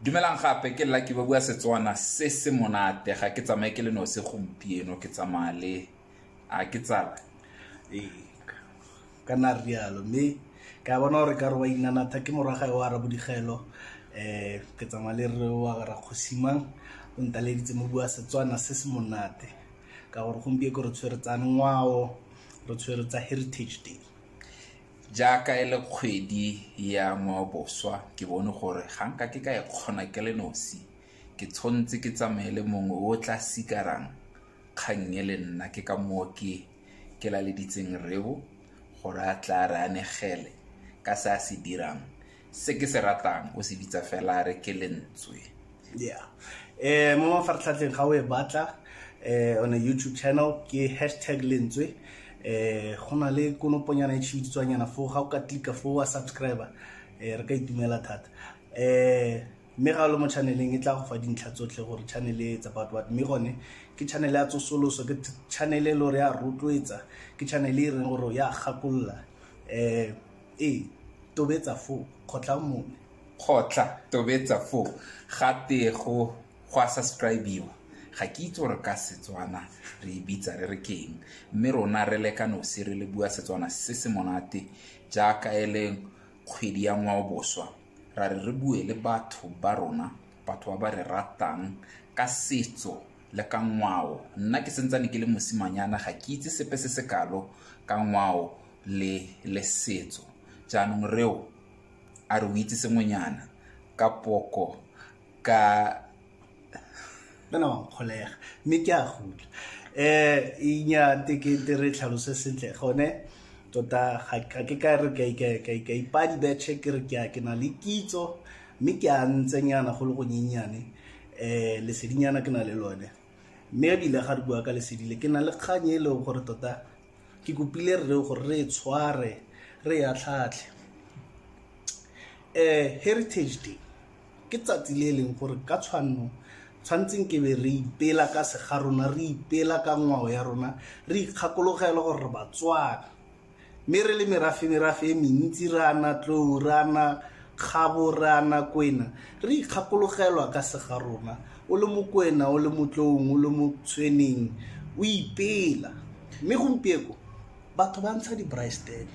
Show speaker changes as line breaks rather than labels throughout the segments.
dumelang gape ke lucky ba bua setswana se se monate ga ke tsamaye ke le nose gompieno ke tsamaya le a ke tsala ee
ka na rialo mme ke a bona gore ka re wa inanatha ke morwagae wa arabo digelo um ke tsamaya le re wa rakgosimang o ntaleditse mo bua setswana se se monate ka gore gompieko re tshwere tsa ngwao re tshwere tsa heritage day jaaka
e le kgwedi ya ngwaoboswa ke bone gore ga nka ke ka e kgona ke le nosi ke tshwanetse ke tsamaye le mongwe o tla sikarang kgang e le nna ke ka moo ke ke laleditseng reo gore a tla re anegele ka se a se dirang se ke se ratang o se bitsa fela a re ke lentswe yeah
eh mo mafaratlhatlheng ga o e batla eh on a youtube channel ke hashtag lentswe eh go na le konoponyana e tshibiditswanyana foo ga o ka tlika foo wa subscriber eh re ka itumela thata eh mme ga o le mo channeleng e tla go fa dintlha tsotlhe gore channel e etsa about what mme gone ke channel ya tsosoloso ke channel e le gore ya rotloetsa ke channel e reng gore ya gakolola um E, tobetsa foo, kgotla mone. Kgotla,
tobetsa foo. Ga tee go, go a subscribiwa. Ga ke itse gore ka Setswana re e bitsa re re keng. Mme rona re le ka nosi re le bua Setswana se se monate jaaka e le kgwedi ya ngwaoboswa. Ra re re bue le batho ba rona, batho ba ba re ratang ka setso le ka ngwao. Nna ke sentsane ke le mosimanyana ga ke itse sepe se se kalo ka ngwao le le setso jaanong reo a re o itse sengwenyana ka poko ka
bana wa nkgolega mme ke a gutla um inya tekete re tlhalose sentle gone tota ga ke ka re ka ipadi betšhe ke re ke na le kitso mme ke a ntsenyana go le go nyenyane um lesedinyana ke na le lone mme ebile ga re bua ka lesedile ke na le kgang e leng gore tota ke kopile rre gore re e tshware re ya tlhatlhe um heritage day ke tsatsi le e leng gore ka tshwanno tshwantseng ke be re ipela ka sega rona re ipela ka ngwao ya rona re ikgakologela gore re batswana mme re le merafe merafe e mentsi re ana tlou re ana kgabo re ana kwena re ikgakologelwa ka sega rona o le mokwena o le motloong o le mo tshweneng o ipela mme gompieko batho ba ntsha di-bristep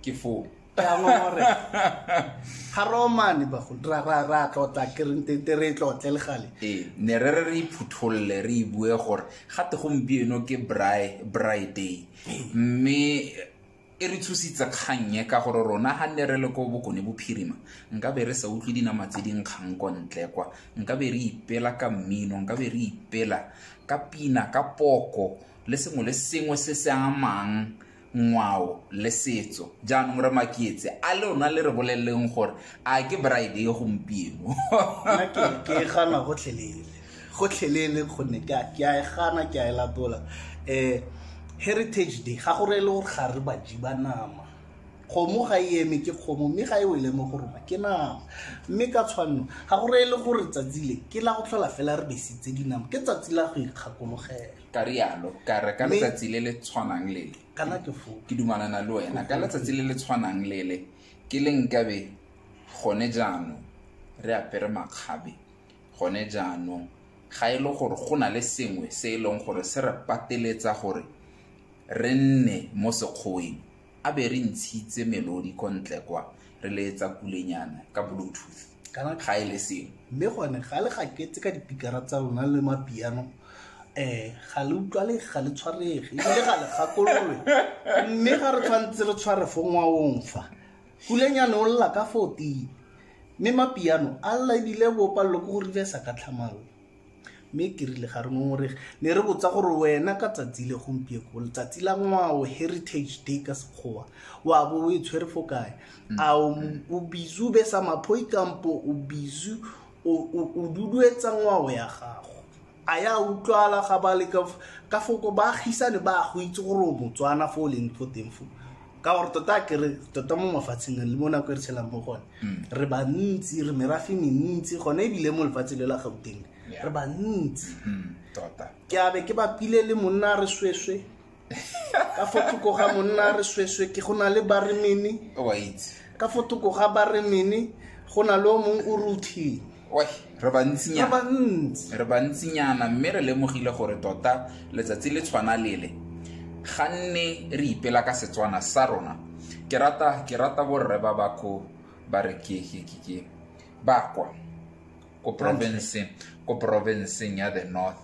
ke foo
ga romane ra tlotla kerentete re tlotle le gale ee ne re re re
iphutholole re ibue gore gate gompieno ke bry day mme E re tshositse kgang e ka gore rona ga nne re le ko Bokone Bophirima nkabe re sa utlwe dinama tse di nkgang ko ntle kwa, nkabe re ipela ka mmino, nkabe re ipela ka pina, ka poko le sengwe le sengwe se se amang ngwao le setso. Jaanong re makietse a lona le re boleleleng gore a ke braai day gompieno. Nna ke
e gana gotlhelele. gotlhelele gonne ke a e gana ke a e latola um heritage day ga go re e le gore ga re baji ba nama kgomo ga e eme ke kgomo mme ga e wele mo go rona ke nama mme ka tshwanno ga go re e le gore tsatsi le ke la go tlhola fela re besitse dinama ke tsatsi la go ikgakologela ka rialo
ka re ka letsatsi le le tshwanang lele kana ke fo ke
dumalana le wena
ka letsatsi le le tshwanang lele ke le nkabe gone jaanong re apere makgabe Gone jaanong, ga e le gore go na le sengwe se e leng gore se re pateletsa gore re nne mo sekgoweng, a be re ntshitse melodi ko ntle kwa re leetsa kulenyana ka bluetooth kana ga e le sengwe mme gone ga le
gaketse ka dipikara tsa lona le mapiano um eh, ga le utlwale ga le tshwarege ebile ga le gakololwe mme ga re tshwanetse re tshware fo ngwaong fa Pulenyane o lla ka fa o tee, mme mapiano a lla e bile bo palelo ke go rivesa ka tlhamalo. Mme ke rile ga re ngongorege, ne re botsa gore wena ka tsatsi le gompieko, letsatsi la ngwao, Heritage Day ka Sekgowa, wa bo o e tshwere fo kae? A o o busy o besa maphoi kampo o busy o o- o duduetsa ngwao ya gago? a ya utlwala ga ba le ka foko ba agisane ba go itse gore o motswana fo o leng fo teng fo ka gore tota kere tota mo mafatsheng le mo nako e re tshelang mo gone mm. re bantsi re merafe mentsi gone ebile mo lefatshe le la gauteng re bantsi mm, tota.
ke abe ke bapile
le monna re sweswe ka fo thoko ga monna re sweswe ke go na le baremene wa itse
ka
fo thoko ga baremene go na le o mongwe o ruthini Oi, re
bantsinyana ba bantsi re bantsinyana mme re lemogile gore tota letsatsi le tshwana lele ga nne re ipela ka setswana sa rona ke rata ke rata borre ba bako ba re ke ke ke ke bakwa ko provinceng ko provinceng ya the north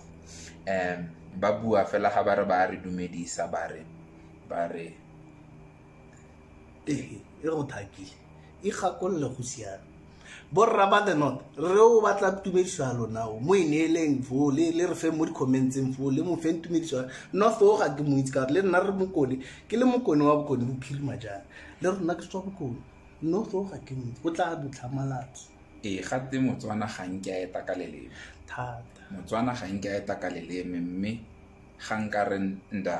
um ba bua fela ga ba re ba re dumedisa ba re ba re
ee e go thakile e gakolole go siame borra ba the north re o batla tumediso ya lona o mo e neeleng foo le le re feng mo di-commentseng foo le mo feng tumediso ya north o ga ke mo itse ka gore le nna re mokone ke le mokone wa bokone bophirima jang le rona ke tswa bokone north o ga ke mo itse o tla dutlhamalatso ee gatte
motswana ga nke a eta ka leleme thata
motswana ga nke
a eta ka leleme mme ga nka re nda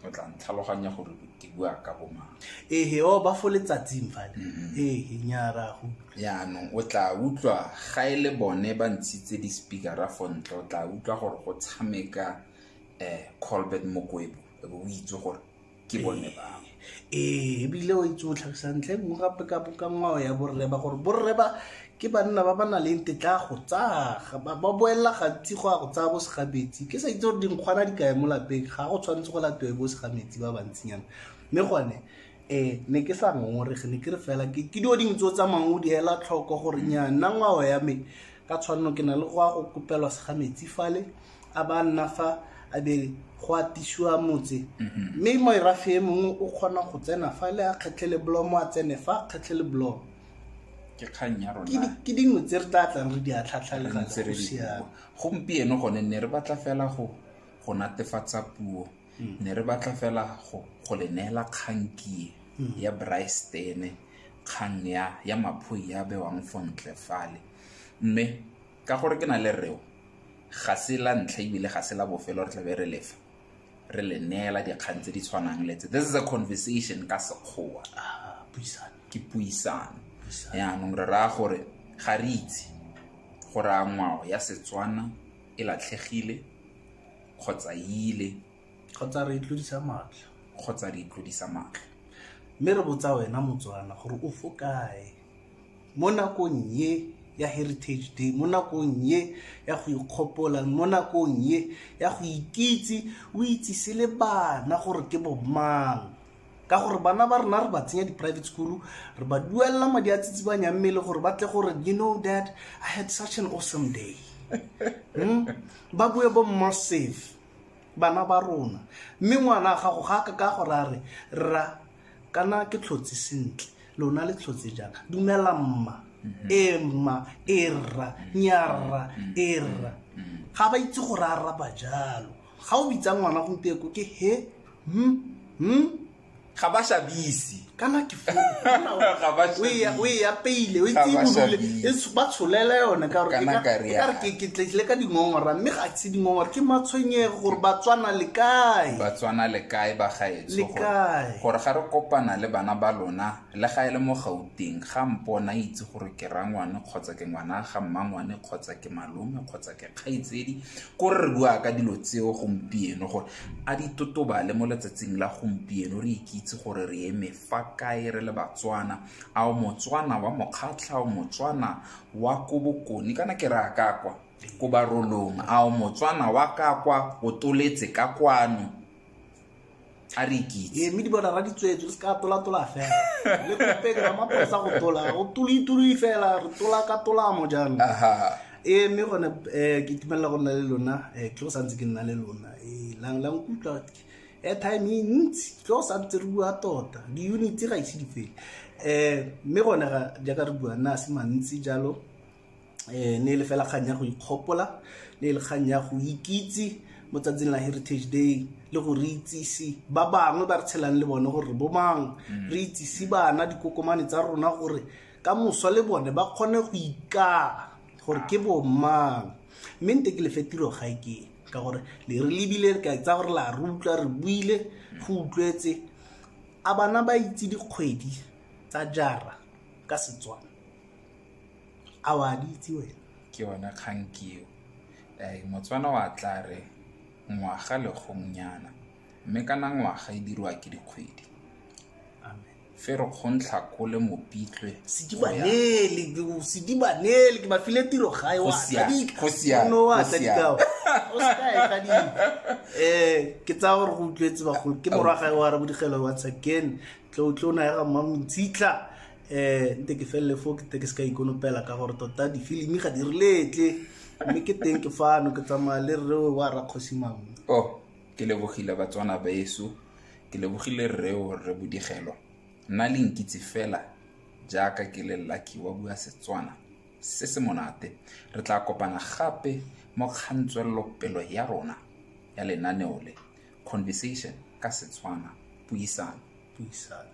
o tla ntlhaloganya gore ke bua ka bomang ehe o oh, ba fo
letsatsing fale mm-hmm. ehe nyara go yaanong o tla
utlwa ga e le bone ba ntshitse di-speakera fo ntle o tla utlwa gore go tshameka um colbert mokwebo o itse gore ke bone ba ee ebile
o itse o tlhagisa ntlha e nngwe gape ka ka ngwao ya borre ba gore borre ba ke banna ba ba na leng tetla go tsaga ba ba boelela gantsi go ya go tsaya bo segametsi ke sa itse gore dinkgwana di kae mo lapeng ga go tshwanetse go latiwe bo segametsi ba bantsinyana mme gone um ne ke sa ngongorege ne ke re fela ke ke dio dingwe tse o tsamayng o di ela tlhoko gore nya nna ngwao ya me ka tshwanelo ke na le go ya go kopelwa segametsi fale a ba nna fa a be go atisiwa motse mhm. mme moerafe e mongwe o kgona go tsena fa le a kgetlhele bolomo a tsene fa a kgetlhele bolomo ke
kgang ya rona ke dingwe tse re tla
tlang re di a tlhatlhalegasiaa gompieno gone
ne re batla fela go go natefatsa puo mm. ne re batla fela go go le neela kgankie mm. ya bristene kgang ya ya maphoe ya bewang fo ntle fale mme ka gore ke na le reo ga se la ntlha ebile ga se la bofelo re tlabe re lefa re le neela dikgang tse di tshwanang le tse this is a conversation ka sekgowa ah, ke puisano yaanong re raya gore ga re itse gore a ngwao ya setswana e latlhegile kgotsa ile kgotsa re
itlodisa matlho kgotsa re itlodisa matlho mme re botsa wena motswana gore o fo kae Mo nakong ye ya Heritage Day, mo nakong ye ya go ikgopola, mo nakong ye ya go ikitse, o itsise le bana gore ke bo mang. Ka gore bana ba rona re ba tsenya di-private school, re ba duelela madi a tsitsibanyang mmele gore ba tle gore you know that I had such an awesome day. Hmm? Ba bue bo massive bana ba rona. Mme ngwana gago ga ka ka gore a re, rra kana ke tlhotse sentle. lona le tshotse jang dumela mma mhm. e mma e rra nyarra mhm. e rra mhm. ga ba itse gore a raba jalo ga o bitsa ngwana gompieko ke he hmm hmm
ga ba shabisi kana ke
fo o e apeile o e tsimolole e ba tsholela yone ka gore e ke tletlile ka dingongora mme ga se dingongora ke matshwenyego gore ba tswana le kae ba tswana le kae ba
gae le kae gore ga re kopana le bana ba lona le ga e le mo gauteng ga mpona itse gore ke rangwane kgotsa ke ngwana ga mmangwane kgotsa ke malome kgotsa ke kgaitsedi ko re bua ka dilo tseo gompieno gore a di totobale mo letsatsing la gompieno re ikitse gore re eme fa kae re le batswana a o motswana wa mokgatlha o motswana wa ko bokone kana ke re a ka kwa ko barolong a o motswana wa ka kwa o toletse ka kwano a re ikitse ee mme di bona ra ditswetso
le se ka tola-tola fela le kopeke ra maposa go tola go toloi-toloi fela re tola ka tolamo jaanong ee mme gone um ke itumelela go nna le lona um ke go santse ke nna le lona ee lang lang kutlwa airtime e ntsi ke go santse re bua tota di-unity ga ise di fele um mme gone jaaka re bua nna a se mantsi jalo eh, ne e le fela kgang ya go ikgopola ne e le kgang ya go ikitse mo tsatsing la heritage day le go re itsise ba bangwe ba re tshelang le bone gore bo mang mm. re itsise bana dikokomane tsa rona gore ka moso le bone ba kgone go ikaa gore ke bo mang mme nte ke lefe tiro ga e ke ka gore le re lebile re ka tsa gore la re utlwa re buile go utlwetse a bana ba itse dikgwedi tsa jara ka setswana a wa di itse wena ke yona kgang
keo um motswana wa tla re ngwaga legongnyana mme kana ngwaga
e dirwa
ke dikgwedi fe re kgontla kole mopitlwe sedibanele
ke bafile tiro gae wa tla dikao o sekaeka di um eh, ke tsaya gore go utlwetse bagolo ke morwa gae wa rabo digelo wa tsaken tlo tlo na ya ga mmamontshitla um nte ke felele fo ke te ke se ka ikonopela ka gore tota difilimi ga di reletle mme ke teng ke fano ke tsamaya le rrewe wa rakgosi mangwe o oh, ke
lebogile batswana baeso ke lebogile rreo rre bodigelo nna le nkitse fela jaaka ke le lucky wa bua setswana se se monate re tla kopana gape mo kgantswelelopelo ya rona ya lenaneo le conversation ka setswana puisano puisano